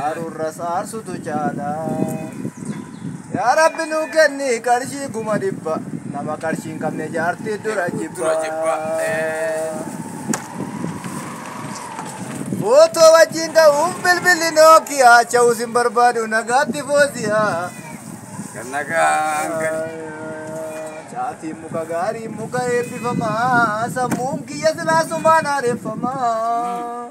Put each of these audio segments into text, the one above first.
Aarurras aarsutu caala. Yaa Rabbi nu kenni qarshii kuma dhibba. Nama qarshii hin qabne jaartii dura jibba. Footoo wajjin ka'uuf bilbilli Nookiyaa cha'uus hin barbaadu nagaatti fooziyaa. Caatiin muka gaarii muka eebbifamaa sammuun kiyya silaasumaan haareffamaa.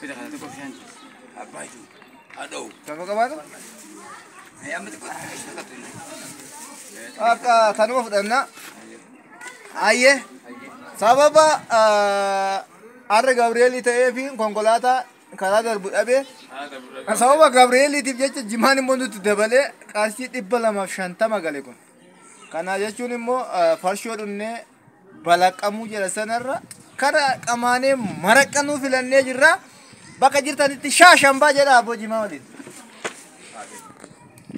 Fida kana tokko bishaan abbaa jiru. Adoo. Gaafa qabaatu Ee amma tokko isa tokko inni. akka tanuma fudhanna. Ayyee sababa ah, har'a Gabri'eelii ta'ee fi konkolaataa karaa darbu dhabee sababa Gabri'eeliitiif jecha jimaan immoo nutti dabalee qarshii dhibba lamaaf shantama gale kun. Kana jechuun immoo ah, farshoo dhunnee balaqamuu jira sanarra kara qamaanee maraqqanuu filannee jirra bakka jirtanitti shaashambaa jedha abboo jimaa waliin.